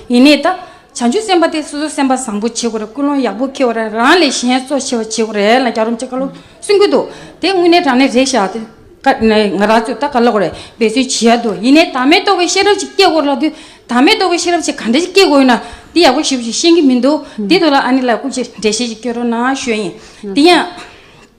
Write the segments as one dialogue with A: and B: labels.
A: ཡེ་ནས་དང། བྱང་ཆུབ་སེམས་དཔའ་དེ་སོ་སོའི་སེམས་པ་བཟང་པོ་བྱེད་དགོས་རེད་ཀུན་སློང་ཡག་པོ་འཁྱེར་བ་རེད་རང་ལས་གཞན་གཙོ་ཆེ་བ་བྱེད་དགོས་རེད་ལ་རྒྱ་རོམ་ཅེ་ཀ་ལོ་གསུང་གི་འདུག་དེ་དངོས་གནས་དྲང་གནས་རེད་ཤག་དེ་ཀ་ང་རང་ཚོས་ད་ག་ལ་གོ་རེད་འབད་བརྩོན་བྱེད་ཡག་འདུག་ཡེ་ནས་དམ་མེད་རྟོགས་པའི་ཤེས་རབ་ཅིག་སྐྱེ་དགོས་ལ་དུས་དམ་མེད་རྟོགས་པའི་ཤེས་རབ་ཅིག་ག་འདྲ་ཞིག་སྐྱེ་དགོས་ཡོད་ན་དེ་ཡག་པོ་ཞིབ་ཞིག་ཤེས་གི་མི་འདུག་དེ་དུས་ལ་ཨ་ནི་ལ་སྐུབ་ཅིག་འགྲེལ་བཤད་ཅིག་བསྐྱོན་རོགས་གནང་ཞུ་ཡིན་དེ་ཡང།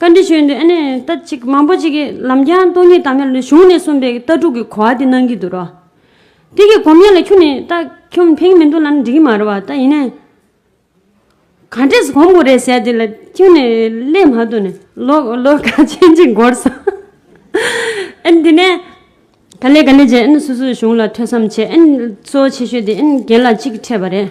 B: བཀའ་འདྲི་ཞུས་འདུག་ཨ་ནི་ལྟ་ཅིག་མང་པོ་ཅིག་གིས་ལམ་རྒྱང་སྟོང་ཉིད་དམ་ཡང་ལི་གཞུང་ནས་གསུངས་པའི་ལྟ་གྲུབ་ཀྱི་གོ་བ་དེ་གནང་གི་འདུག་རོ། དེ་གི་གོམ་ཡང་ལ་ཁྱུ་ནི་ལྟ་ཁྱུམ་ཕེང་མི་འདུག་ལ་ནི་འགྲིག་གི་མ་རེད་བ་ལྟ་ཡིན་ནའི། ག་འདྲས་གོམ་བུ་རེ་ཟད་དེ་ལ་ཁྱུ་ནི་སླེབས་མ་ཐུབ་ནས་ལོ་ག་ཕྱེད་གཅིག་འགོར་སོང། ཨ་ནི་དེ་ནས་ག་ལེ་ག་ལེ་བྱས་ཨ་ནི་སོ་སོའི་གཞུང་ལ་ཐོས་བསམ་བྱས་ཨ་ནི་གཙོ་བོ་ཆེ་ཤོས་དེ་ཨ་ནི་རྒན་ལགས་གཅིག་གིས་འཕྲད་པ་རེད།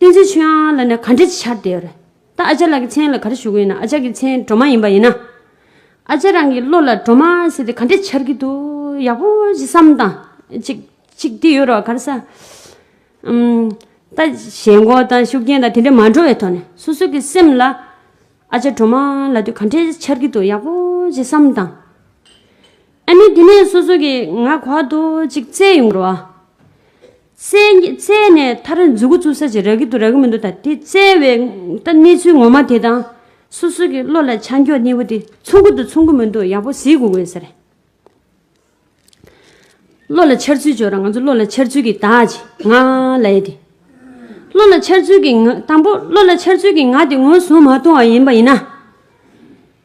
B: བསྟན་འཛིན་ཆོས་དབྱངས་ལ་ནི་ག་འདྲའི་ཆར་དེ་ཡོད་རེད། ད་ཨ་ཅག་ལགས་ཀྱི་མཚན་ལ་ག་རེ་ཞུ་གི་ཡིན་ན་ཨ་ཅག་གི་མཚན་གྲོ་མ་ཡིན་པ་ཡིན་ན། ཨ་ཅག་རང་གི་བློ་ལ་གྲོ་མ་ཟེར་དེ་ག་འདྲའི་ཆར་གི་འདུག་ཡག་པོ་ཞིག་བསམ་དང། ཅིག་ཅིག་དེ་ཡོད་རོགས་ག་རེ་ས། ད་ཞལ་མགོ་དང་ཤུགས་རྐྱེན་དང་དེ་འདྲ་མ་འགྲོ་བའི་ཐོག་ནས་སོ་སོ་གི་སེམས་ལ། ཨ་ཅག་གྲོ་མ་ལ་དུས་ག་འདྲའི་ཆར་གི་འདུག་ཡག་པོ་ཞིག་བསམ་དང། ཨ་ནི་དེ་ནས་སོ་སོ་གི་ང་གོ་བ་འདུག་ཅིག་བཙལ་ཡོང་རོགས། བཙལ་ནས་མཐར་མཛུ་གུ་བཙུགས་ས་ཅིག་རག་གི་འདུག་རག་གི་མི་འདུག་ད་དེ་བཙལ་བའི་གནས་ཚུལ་ངོ་མ་དེ་དང། སོ་སོ་གི་བློ་ལ་ཆ་འཇོག་གནས་བུ་དེ་མཚུངས་ཀི་འདུག་མཚུངས་ཀི་མི་འདུག་ཡག་པོ་གཟིགས་དགོས་དགོས་ཟེར། བློ་ལ་འཆར་ཚུལ་འཇོག་ར་ང་ཚོ་བློ་ལ་འཆར་ཚུལ་གི་དག་ཅིག་ང་ལ་ཡོད་དེ། བློ་ལ་འཆར་ཚུལ་གི་ང་དང་པོ་བློ་ལ་འཆར་ཚུལ་གི་ང་དེ་ངོས་བཟུང་མ་བཏང་བ་ཡིན་པ་ཡིན་ན།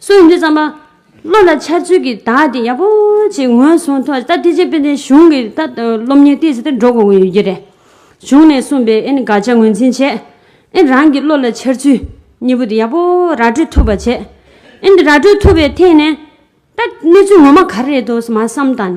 B: སུ་ཡིན་དུས་ཙམ་པ། བློ་ལ་འཆར་ཚུལ་གྱིས་བདག་དེ་ཡག་པོ་ཞིག་ངོས་བཟུང་ཐོག་ད་ཐེ་ཇེ་པེ་ཏེ་གཞུང་གི་ད་སློབ་གཉེར་སྟེ་ཟེར་ཏེ་འགྲོ་དགོས་ཀྱི་ཡོད་ཀྱི་རེད། གཞུང་ནས་གསུངས་པའི་ཨེ་ནི་དགག་བྱ་ངོས་འཛིན་བྱས། ཨེ་རང་གི་བློ་ལ་འཆར་ཚུལ་གཉིས་པོ་དེ་ཡག་པོ་ར་སྤྲོད་ཐུབ་པ་བྱས། ཨེ་འདི་ར་སྤྲོད་ཐུབ་པའི་ཐད་ནས། ད་གནས་ཚུལ་ངོ་མ་ག་རེ་རེད་དོ་ཟེར་མ་བསམ་དང།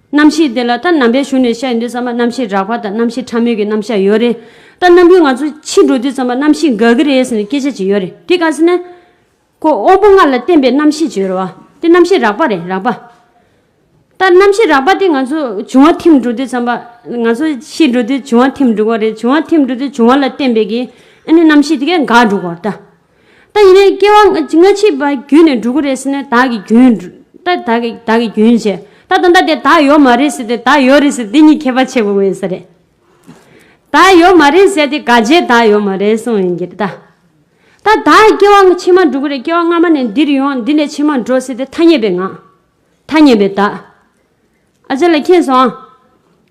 B: རྣམ་ཤེས་དེ་ལ་ད་ནམ་པའི་གཞུང་ནས་བཤད་ཡོད་དུས་ཚང་མ་རྣམ་ཤེས་རགས་པ་དང་རྣམ་ཤེས་ཕྲ་མོས་ཀྱི་རྣམ་གཞག་ཡོད་རེད། ད་ནམ་རྒྱུན་ང་ཚོ་ཕྱིར་འགྲོ་དུས་ཚང་མ་རྣམ་ཤེས་འགག་གི་རེད་ཟེར་ནས་སྐད་ཆ་བྱེད་ཡོད་རེད་དེ་ག་ཟེར་ན། ཁོ་དབང་པོ་ལྔ་ལ་བརྟེན་པའི་རྣམ་ཤེས་བྱེད་ཡོད་རེད་བ། དེ་རྣམ་ཤེས་རགས་པ་རེད་རགས་པ། ད་རྣམ་ཤེས་རགས་པ་དེ་ང་ཚོ་འབྱུང་བ་ཐིམ་འགྲོ་དུས་ཚང་མ་ང་ཚོ་ཤི་འགྲོ་དུས་འབྱུང་བ་ཐིམ་འགྲོ་གི་རེད་འབྱུང་བ་ཐིམ་འགྲོ་དུས་འབྱུང་བ་ལ་བརྟེན་པའི་གི་ཨ་ནི་རྣམ་ཤེས་དེ་གས་འགག་འགྲོ་གི་རེད། ད་ཡིན་ན་སྐྱེ་བ་སྔ་ཕྱི་བ་རྒྱུན་ནས་འགྲོ་གི་རེད་ཟེར་ན་བདག་གི་རྒྱུན། ད་བདག་གི་བདག་གི་རྒྱུན་ཟེར། ད་ད་ལྟ་དེ་བདག་ཡོད་མ་རེད་ཟེར་ཏེ་བདག་ཡོད་རེད་ཟེར་དེ་གཉིས་ཁྱད་པར་ཆེ་པོ་ངོས་ཟེར་རེད། བདག་ཡོད་མ་རེད་ཟེར་ཏེ་ག་རྗེས་བདག་ཡོད་མ་རེད་གསུངས་ཡིན་གྱི། ད་ད་བདག་སྐྱེ་བ་ཕྱི་མ་འགྲོ་གི་རེད་སྐྱེ་བ་སྔ་མ་ནས་འདིར་ཡོང་འདི་ནས་ཕྱི་མ་འགྲོ་ཟེར་ཏེ་ཐ་སྙད་པའི་ངག། ཐ་སྙད་པའི་བདག། ཨ་ཅག་ལ་མཁྱེན་སོང།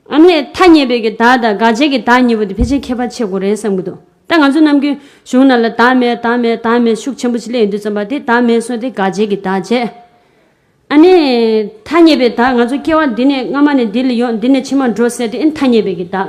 B: ཨ་ནི། ཐ་སྙད་པའི་གི་དག་དང་དགག་བྱའི་གི་དག་གཉིས་པོ་དེ་ཕལ་ཆེར་ཁྱད་པར་ཆེ་གོ་རེད་བསམ་གི་འདུག་ད་ང་ཚོ་རྣམས་ཀུན་གཞུང་རྣམས་ལ་དག་མེད་དག་མེད་དག་མེད་ཤུགས་ཆེན་པོ་ཆེ་སླེབས་ཡོང་དུས་བརྩམས་པ་དེ་དག་མེད་སོང་སྟེ་དགག་བྱའི་གི་དག་བྱས། ཨ་ནི། ཐ་སྙད་པའི་དག་ང་ཚོ་སྐྱེ་བ་འདི་ནས་སྔ་མ་ནས་འདི་ལ་ཡོང་འདི་ནས་ཕྱི་མར་འགྲོ་ཟེར་དེ་ཨེ་ཐ་སྙད་པའི་གི་དག།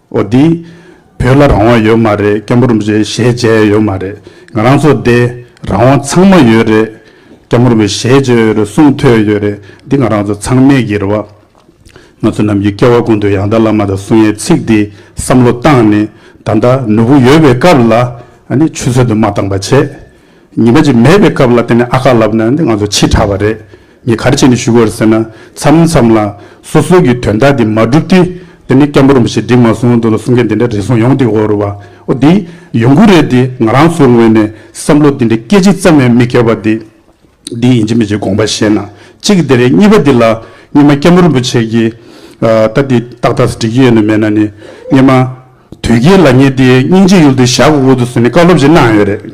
C: ཨོ་དི། བོད་ལ་རང་དབང་ཡོད་མ་རེད་སྐམ་པོར་མི་རེད་ཞེས་བརྗད་ཡ་ཡོད་མ་རེད་ང་རང་ཚོ་བདེ་རང་དབང་ཚང་མ་ཡོད་རེད་སྐམ་པོར་མི་ཞེས་བརྗོད་ཡོད་རེད་གསུངས་ཐོས་ཡོད་རེད་འདི་ང་རང་ཚོ་ཚང་མས་གིར་བ། ང་ཚོ་རྣམས་ཀྱི་སྐལ་བ་ཀུན་ཏུ་ཡང་དར་བླ་མ་དང་གསུང་ཡའི་ཚིག་འདི་བསམ་བློ་བཏང་ནས་ད་ལྟ་ནུ་བོ་ཡོད་པའི་སྐབས་ལ་ནི་ཆུ་ཚོད་དུ་མ་བཏང་པ་བྱས། ཉི་མ་གཅིག་མེད་པའི་སྐབས་ལ་དེ་ནས་ཨ་ཁ་ལབ་ན་ནི་ང་ཚོ་འཆི་ཁྲ་བ་རེད། ངས་ག་རེ་བྱས་ནས་ཞུ་དགོས་རེད་ཟེར་ན། མཚམས་མཚམས་ལ། སོ་སོའི་གི་དོན་དག་འདི་མ་འགྲུབ་དུས། དེ་ནི་སྐྱ་འབུར་རིན་པོ་ཆེས་བསྒྲིགས་མ་སོང་འདུག་ལ་གསུང་མཁན་དེ་འདྲ་རེ་ཟུང་ཡོང་དུས་འོ་རེད་བ། འོ་འདི། ཡོང་གི་རེད་འདི་ང་རང་ཚོའི་ངོས་ནས་བསམ་བློ་འདི་འདྲའི་སྐད་ཅིག་ཙམ་ཡང་མི་གལ་བ་འདི། འདི་ཡིན་གཅིག་མིན་གཅིག་དགོངས་པ་བཞེས་ན་གཅིག་དེ་རེད་གཉིས་པ་འདི་ལ། སྙེ་མ་སྐྱ་འབུར་རིན་པོ་ཆེས་གི། ད་འདི་ཏག་ཏག་སྒྲིག་གི་ཡོད་ནི་མེད་ན་ནི། སྙེ་མ། དོལ་རྒྱལ་ལ་ངས་འདི་སྙིང་རྗེའི་ཡུལ་དུ་བཞག་གི་འོག་ཏུ་སོན་ནི་བཀའ་སློབ་ཅིག་གནང་ཡོད་རེད།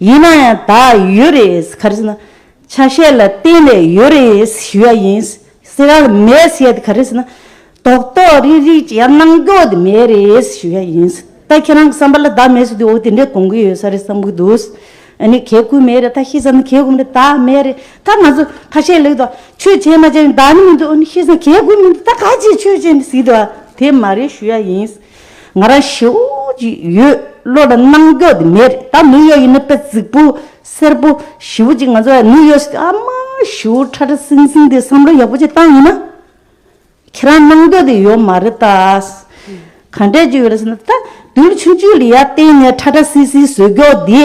D: ཡིན་ན་ཡང་ད་ཡོད་རེད་ག་རེ་ཟེར་ན། ཆ་ཤས་ལ་བརྟེན་ནས་ཡོད་རེད་ཞུ་ཡ་ཡིན། ཟེར་ཡ་མེད་བཤད་དེ་ག་རེ་ཟེར་ན། དོག་དོག་རིག་རིག་ཅི་ཡང་གནང་རྒྱུ་དེ་མེད་རེད་ཞུ་ཡ་ཡིན། ད་ཁྱེད་རང་གི་བསམ་པ་ལ་བདག་མེད་བཟོ་དུས་འོ་དེ་འདྲས་གཏོང་གི་ཡོད་ས་རེད་བསམ་གྱི་འདུག། ཨ་ནི་གལ་གུད་མེད་རེད་ད་ཤེས་ས་ནི་གལ་གུད་མེད་རེད་ད་མེད་རེད་ད་ང་ཚོ་ཁ་ཤས་ལེགས་འདུག་ཆོས་བྱས་མ་བྱས་བདག་ནི་མི་འདུག་ཨ་ནི་ཤེས་ས་ནི་གལ་གུད་མི་འདུག་ད་ག་ཅིག་ཆོས་བྱས་ནས་ཟིག་འདུག་དེ་མ་རེད་ཞུ་ཡ་ཡིན། ང་རང་བྱེའུ་གཅིག་ཡོད་བློ་ལ་སྣང་རྒྱོ་དེ་མེད་རེད་ད་ནུ་ཡོ་ཡི་ནི་པེ་ཙིག་པུ་སེར་པོ་བྱེའུ་གཅིག་ང་ཚོ་ཡ་ནུ་ཡོ་སི་ཨ་མ་བྱེའུ་ཁྲ་ཁྲ་སིང་སིང་དེ་བསམ་བློ་ཡག་པོ་ཅིག་བཏང་ཡིན་ན་ཁྱེད་རང་སྣང་རྒྱོ་དེ་ཡོད་མ་རེད་ད་ག་འདྲས་ཅིག་ཡོད་རེད་ཟེར་ན་ད་དུས་ཆུང་ཆུང་ལི་ཡ་སྟེང་ནས་ཁྲ་ཁྲ་སིག་སིག་བཟོས་རྒྱོ་དེ།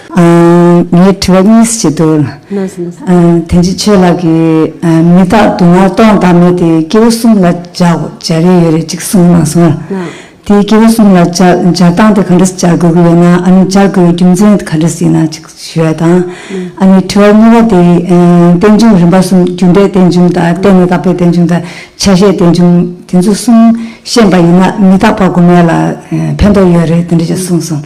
C: ངའི་
E: དྲི་བ་གཉིས་བྱེད་དུ། དེ་རྗེས་ཆོས་ལགས་ཀྱིས་མི་དག་དུ་མར་སྟོང་བདག་མེད་དེ་སྐྱེ་བོ་གསུམ་ལ་སྦྱར་སྦྱར་ཡས་ཡོད་རེད་ཅིག་གསུངས་གནང་སོང། དེ་སྐྱེ་བོ་གསུམ་ལ་སྦྱར་སྦྱར་སྟངས་དེ་ག་འདྲ་སྦྱར་དགོས་ཀྱི་ཡོད་ན་ཨ་ནི་སྦྱར་དགོས་པའི་རྒྱུ་མཚན་ག་འདྲ་ཞིག་ཡིན་ནང་ཅིག་ཞུ་བ་དང། ཨ་ནི་དྲི་བ་གཉིས་པ་དེ་རྟེན་འབྱུང་རིམ་པ་གསུམ་རྒྱུ་འབྲས་རྟེན་འབྱུང་དང་གཏན་མི་དག་པའི་རྟེན་འབྱུང་དང་ཆ་ཤས་རྟེན་འབྱུང་དེ་ཚོ་གསུམ་ཤེས་པ་ཡིན་ན་མི་དག་པ་དགོ་མེད་ལ་ཕན་ཐོགས་ཡོད་རེད་དེ་འདྲ་ཅིག་གསུངས་སོང།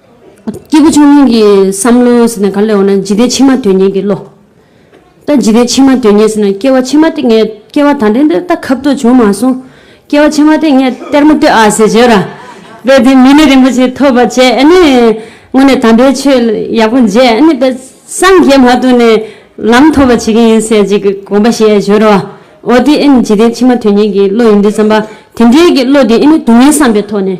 B: སྐྱེས་བུ་ཆུང་ངུ་ཡི་བསམ་བློ་ཟེར་ན་ག་ལ་ཡོད་ན་འཇིག་རྟེན་ཕྱི་མ་དོན་གཉེར་གྱི་བློ། ད་འཇིག་རྟེན་ཕྱི་མ་དོན་གཉེར་ཟེར་ན་སྐྱེ་བ་ཕྱི་མ་སྟེ་ངས་སྐྱེ་བ་ད་ལྟ་འདིར་ད་ཁབ་ཏུ་བྱུང་མ་སོང། སྐྱེ་བ་ཕྱི་མ་སྟེ་ངས་གཏེར་མ་ལྟོས་ཨ་ཟེར་བྱོས་ར། དེ་དེ་མི་ནི་རིན་པོ་ཆེ་ཐོབ་པ་བྱས་ཨེ་ནི། དངོས་ནས་དམ་པའི་ཆོས་ཡག་པོ་མཇལ་ཨེ་ནི་པས་སངས་རྒྱས་མ་ཐོབ་ནས་ལམ་ཐོབ་པ་བྱེད་ཀྱི་ཡིན་ཟེར་གྱི་དགོངས་པ་བཞེས་བྱོས་ར། འོ་དེ་ཨེ་ནི་འཇིག་རྟེན་ཕྱི་མ་དོན་གཉེར་གྱི་བློ་ཡིན་འདི་བསམ་པ་དེ་འདྲའི་གི་བློ་དེ་ཨེ་ནི་སྡུག་བསྔལ་བསམ་པའི་ཐོག་ནས་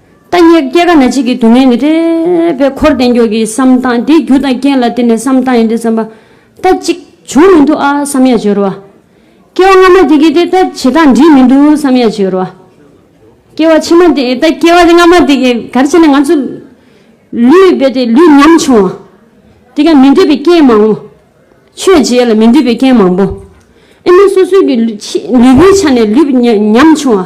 B: ལྟ་ཉེས་སྐྱེ་རྒ་ན་འཆི་གི་སྡུག་བསྔལ་ནི་རེ་བའི་འཁོར་འདས་མགྱོགས་ཀྱི་བསམ་སྟངས་དེའི་རྒྱུ་དང་རྐྱེན་ལ་བརྟེན་ནས་བསམ་སྟངས་ཡིན་ཏེ་བསམ་པ་ལྟ་ཅིག་བྱུང་མི་འདུག་ཨ་བསམ་ཡ་བྱི་རུ་བ། སྐྱེ་བ་སྔ་མ་དེ་གི་དེ་ལྟ་བྱེད་སྟངས་འགྲིག་མི་འདུག་བསམ་ཡ་བྱི་རུ་བ། སྐྱེ་བ་ཕྱི་མ་དེ་ལྟ་སྐྱེ་བ་སྔ་མ་དེ་གི་གར་བྱས་ནས་ང་ཚོ་ལུས་རྦད་དེ་ལུས་ཉམ་ཆུང་བ། དེ་ག་མི་འདོད་པའི་རྐྱེན་མང་བོ། ཆོས་བྱེད་ལ་མི་འདོད་པའི་རྐྱེན་མང་བོ། ཨེ་མི་སོ་སོའི་གི་ལུས་པོའི་ཆ་ནས་ལུས་ཉམ་ཆུང་བ།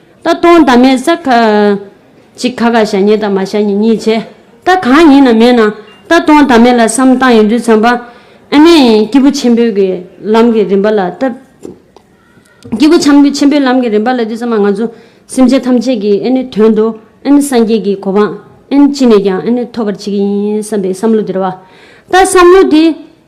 B: ད་སྟོང་ད་མེད་ས། ཅིག་ཁ་ཁ་ཞག་ཉེས་དང་མ་ཞག་ཉེས་གཉིས་བྱས། ད་གང་ཡིན་ན་མེད་ན། ད་སྟོང་ད་མེད་ལ་བསམ་བཏང་ཡོད་དུས་བྱམས་པ། ཨ་མས། སྐྱེས་བུ་ཆེན་པོའི་གི་ལམ་གི་རིམ་པ་ལ་ལྟ། སྐྱེས་བུ་ཆམ་པོའི་ཆེན་པོའི་ལམ་གི་རིམ་པ་ལ་དུས་བྱམས་པ་ང་ཚོ། སེམས་ཅན་ཐམས་ཅད་ཀྱི་ཨེ་ནི་དོན་དུ་ཨེ་ནི་སངས་རྒྱས་ཀྱི་གོ་འཕང་ཨེ་ནི་ཅི་ནས་ཀྱང་ཨེ་ནི་ཐོབ་པར་བྱེད་ཀྱི་ཡིན་བསམ་པའི་བསམ་བློ་དེར་བ། ད་བསམ་བློ་དེ།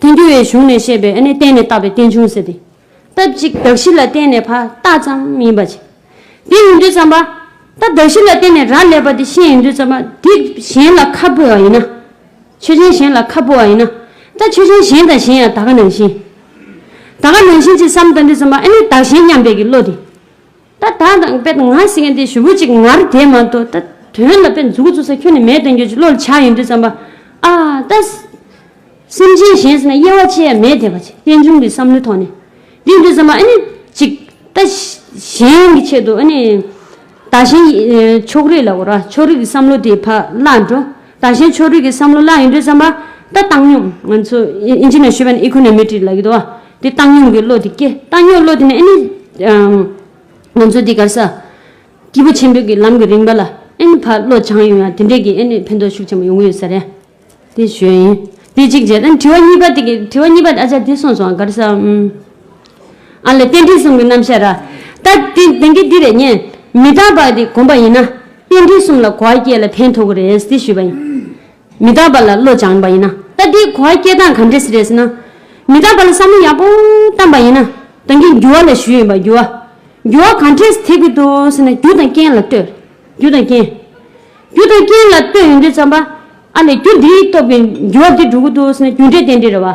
B: བསྟན་འགྱུར་བའི་གཞུང་ནས་བཤད་པའི་ཨ་ནི་བསྟན་ནས་བཏགས་པའི་བསྟན་འབྱུང་ཟེར་ཏེ། སྟབས་གཅིག་གདགས་གཞི་ལ་བརྟེན་ནས་ཕར་བཏགས་ཙམ་ཡིན་པ་ཅིག། དེ་ཡིན་དུས་བརྩམས་པ། ད་གདགས་གཞི་ལ་བརྟེན་ནས་རག་ལས་པ་དེ་ཤེས་ཡིན་དུས་བརྩམས་པ། དེ་གཞན་ལ་ཁ་སྤོ་བ་ཡིན་ན། ཆོས་ཅན་གཞན་ལ་ཁ་སྤོ་བ་ཡིན་ན། ད་ཆོས་ཅན་གཞན་དང་གཞན་ཡང་ད་ག་ནང་བཞིན། ད་ག་ནང་བཞིན་ཅེས་བསམ་ལྟ་འདི་བརྩམས་པ་ཨ་ནི་བདག་གཞན་མཉམ་འབད་ཀྱི་བློ་དེ། ད་ད་དང་དཔེ་ད་ང་ཟེར་མཁན་དེ་ཞུ་བོད་ཅིག་ངར་དེ་མ་གཏོགས་ད་དོན་ལ་དཔེ་མཛུ་གུ་བཙུགས་ས་ཁྱོད་ནི་མེད་དོན་གྱོད་ཅིག་བློ་ལ་འཆར་ཡོད་འདུག་བསམ་པ་ཨ་ད། སེམས་ཅན་གཞན་ཟེར་ན་དབྱེ་བ་ཕྱེ་ཡ་མེད་དེ་བ་ཅིག་རྟེན་འབྱུང་གི་བསམ་བློའི་ཐོག་ནས་འདི་འདུག་བསམ་པ་ཨ་ནི་ཅིག་ད་གཞན་གྱི་ཆེད་དུ་ཨ་ནི་ད་གཞན་ཕྱོགས་རིས་ལ་གོ་ར་ཕྱོགས་རིས་ཀྱི་བསམ་བློ་དེ་བག་བླག་འགྲོ། དང་གཞན་ཕྱོགས་རིས་ཀྱི་བསམ་བློ་ལ་ཡིན་དུས་བསམ་པ། ད་བཏང་སྙོམས། ང་ཚོ་ཨིན་ཇི་ནས་ཤོད་པ་ནི Econometry ལགས་ཀྱིས་དོ། དེ་བཏང་སྙོམས་ཀྱི་བློ་དེ་སྐྱེ། བཏང་སྙོགས་བློ་དེ་ནི་ཨེ་ནི། ང་ཚོ་འདི་གར་ས། སྐྱིད་པོ་ཆེན་པོའི་གི་ལམ་གྱི་རིང་བ་ལ་ཨེ་ནི་ཕར་བློ་བྱང་ཡོང་ཡང་དེ་འདྲས་ཀྱིས་ཨེ་ནི་ཕན་ཐོགས་ཤུགས་ཆེན་པོ་ཡོང་གི་ཡོད་ས་རེད། དེ་ཞོས་ཡིན། དེ་གཅིག་བྱས། དྲི་བ་གཉིས་པ་དེ་གི་དྲི་བ་གཉིས་པ་ཨ་ཅག་དེ་སོང་སོང་གར་ས། ཨ་ལས་རྟེན་འབྲེལ་གསུམ་གྱི་རྣམ་བཤད་ར། ད་དེ་དེང་གི་འདི་རེ་ཉན། མི་རྟག་པ་དེ་གོམས་པ་ཡིན་ན། རྟེན་འབྲེལ་གསུམ་ལ་གོ་བ་སྐྱེས་ལ་ཕན་ཐོག་གི་རེད་དེ་ཞུས་པ་ཡིན། མི་རྟག་པ་ལ་བློ་སྦྱངས་པ་ཡིན་ན། ད་དེ་གོ་བ་སྐྱེས་སྟངས་ག་འདྲས་རེད་ཟེར་ན། མི་རྟག་པ་ལ་བསམ་བློ་ཡག་པོ་བཏང་པ་ཡིན་ན། དེང་གི་འགྱུར་བ་ལ་ཞུས་ཡིན་པ་འགྱུར་བ། འགྱུར་བ་ག་འདྲས་ཐེབས་ཀྱི་འདུག་ཟེར་ན་རྒྱུ་དང་རྐྱེན་ལ་ལྟོས། རྒྱུ་དང་རྐྱེན། རྒྱུ་དང་རྐྱེན་ལ་ལྟོས་ཡོང་དུས་བསམ་པ། ཨ་ལས་རྒྱུ་འདིའི་སྟོབས་ཀྱིས་འགྱུར་བ་འདི་འགྲོ་གི་འདུག་ཟེར་ན་རྒྱུ་འབྲས་རྟེན་འབྲེལ་རེད་བ།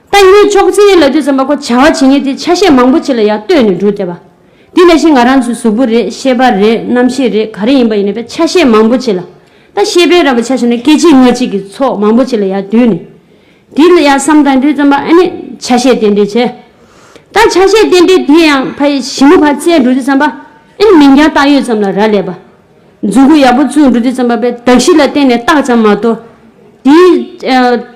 B: ལྟ་ཉན་ཅོག་ཙེའི་ལ་རྒྱུ་ཙམ་པ་ཁོ་བྱ་བ་བྱེད་ངེས་དེ་ཆ་ཤས་མང་པོ་ཆེ་ལ་ཡང་ལྟོས་ནས་འགྲོ་བསྡད་པ། དེ་ལས་གཞན་ང་རང་ཚོའི་གཟུགས་པོ་རེད་ཤེས་པ་རེད་རྣམ་ཤེས་རེད་ག་རེ་ཡིན་པ་ཡིན་ན་བས་ཆ་ཤས་མང་པོ་ཆེ་ལ། ད་ཤེས་པས་ར་བ་ཆ་ཤས་ན་སྐད་ཅིག་ངག་གཅིག་གིས་ཚོགས་མང་པོ་ཆེ་ལ་ཡང་བསྡུས་ནས། དེ་ལ་ཡང་བསམ་དང་འདོད་ཙམ་པ་ཨ་ནི་ཆ་ཤས་རྟེན་འབྲེལ་བྱས། ད་ཆ་ཤས་རྟེན་འབྲེལ་དེ་ཡང་ཕ་ཡི་ཞི་མོ་བར་བཙལ་འགྲོ་བསྡད་ཙམ་པ་ཨ་ནི་མིང་རྐྱང་བཏགས་ཡོད་ཙམ་ལ་ར་ལས་པ། རྫུན་གོ་ཡག་པོ་བཙུགས་འགྲོ་བསྡད་ཙམ་པ་བས་དག་གཞི་ལ་བརྟེན་ནས་བཏགས་ཙམ་མ་གཏོགས། དེའི།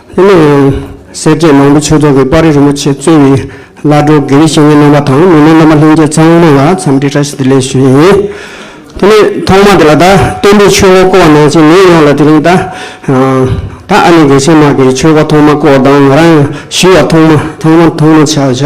F: ལྷན་ནེ་ཡོན། སེར་སྐྱའི་ནང་པའི་ཆོས་ཚོགས་ཀྱི་དཔའ་རིས་རིན་པོ་ཆེ་གཙོས་པའི་བླ་སྒྲོལ་དགེ་བའི་བཤེས་གཉེན་རྣམ་པ་དང་མི་སྣའི་རྣམ་པ་ལྷན་རྒྱས་ཚང་མས་ལ་འཚམས་འདྲི་བཀྲ་ཤིས་བདེ་ལེགས་ཞུས་ཡིན། དེ་ནས་ཐོག་མར་དེ་ལ་ད་སྟོན་པའི་ཆོས་འཁོར་བསྐོར་བ་ནང་བཞིན་མིང་ཡོངས་ལ་དེ་རིང་ད་ད་ཨ་ནེ་དགེ་བཤེས་མ་གིས་ཆོས་འཁོར་ཐོག་མ་བསྐོར་བ་དང་ང་རང་ཡང་ཞུས་བ་ཐོག་མ་ཐོག་མ་ཐོག་མ་ཆ་བཞག་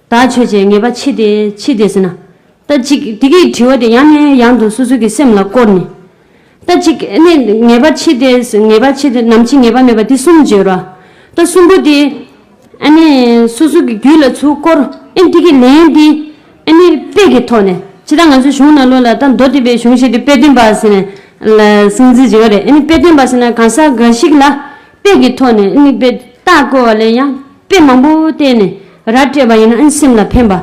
B: དག་ཆོས་ཅན་ངེས་པ་ཕྱི་དེ་ཕྱི་དེ་ཟེར་ན། ལྟ་ཅིག་དེ་གི་དྲི་བ་དེ་ཡང་ནས་ཡང་དུ་སོ་སོ་གི་སེམས་ལ་བསྐོར་ནས། ལྟ་ཅིག་ནས་ངེས་པ་ཕྱི་དེ་ངེས་པ་ཕྱི་དེ་ནམ་ཕྱི་ངེས་པ་མེད་པ་དེ་གསུམ་བརྗོད་རོགས། ལྟ་གསུམ་པོ་དེ། ཨ་ནས་སོ་སོ་གི་རྒྱུད་ལ་ཚུར་བསྐོར། ཨེ་དེ་གི་ལན་དེ། ཨ་ནས་དཔེ་གི་ཐོག་ནས་ཇི་ལྟར་ང་ཚོའི་གཞུང་ནང་ལོ་ལ་ལྟ་མདོ་སྡེ་པའི་གཞུང་ཞིག་དེ་དཔེ་སྟོན་པ་ཟེར་ནས་ལ་གསང་ཚིག་བྱེད་ཀ་རེད་ཨེ་ནས་དཔེ་སྟོན་པ་ཟེར་ན་གང་ཟག་འགའ་ཞིག་ལ་དཔེ་གི་ཐོག་ནས་ཨེ་ནས་དཔེ་རྟགས་བཀོལ་བ་ལས་ཡང་དཔེ་མང་པོ་བལྟས་ནས་ར་སྤྲད་པ་ཡིན་ཨང་སེམས་ལ་ཕན་པ།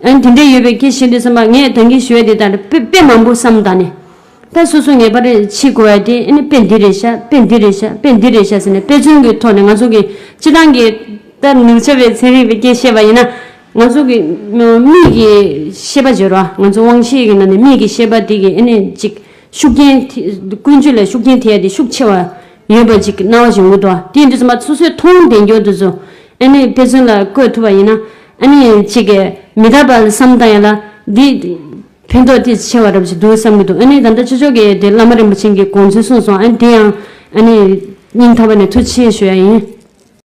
B: ཨང་དེ་འདྲས་ཡོད་པས་ཁྱེད་ཤེས་འདོད་བསམ་པ་ངས་དང་གི་ཞུ་བས་དེ་ལྟར་དཔེ་དཔེ་མང་པོ་བསམ་གདའ་ནས། ད་སོ་སོ་ངེས་པར་ཕྱིས་གོ་བས་དེ་ནི་དཔེ་འདི་རེད་ཤག་དཔེ་འདི་རེད་ཤག་དཔེ་འདི་རེད་ཤག་ཟེར་ནས་དཔེ་མཚོན་གྱི་ཐོག་ནས་ང་ཚོ་གིས་སྤྱི་དང་གི། ལྟར་ནུབ་བྱ་བའི་ཚན་རིག་པའི་སྐད་བཤད་པ་ཡིན་ན། ང་ཚོ་གི། མིག་གི་ཤེས་པ་བརྗོད་རོགས་ཨ་ང་ཚོ་དབང་ཤེས་ཀྱི་ནང་ནས་མིག་གི་ཤེས་པ་དེ་གི་ཨ་ནི་ཅིག་ཤུགས་རྐྱེན་དེ། ཀུན་སྤྱོད་ལ་ཤུགས་རྐྱེན་ཐེབས་ཡ་དེ་ཤུགས་ཆེ་བ། ཡོད་པ་ཅིག་གི་སྣང་བ་ཞིག་འོང་གི་འདུག་དེའི་འགྲེལ་ཚང་པ་སོ་སོས་མཐོང་བདེན་འགྱུར་དུ་བཟོ། དཔེ་མཚོན་ལ་བཀོད་ཐུབ་པ་ཡིན་ན། གཅིག་གིས་མི་དག་པ་བསམ་བཏང་ཡང་ལ། འདི་ཕན་ཐོགས་ཐིག་ཆེ་བ་རབ་ཅིག་འདུག་བསམ་གྱི་འདུག་ད་ལྟ་ཆོས་ཕྱོགས་ཀྱི་དེ་བླ་མ་རིན་པོ་ཆེན་གྱི་དགོངས་ཚུལ་གསུངས་སོང་དེ་ཡང། སྙིང་ཐག་པ་ནས་ཐུགས་ཆེ་ཞུ་ཡ་ཡིན།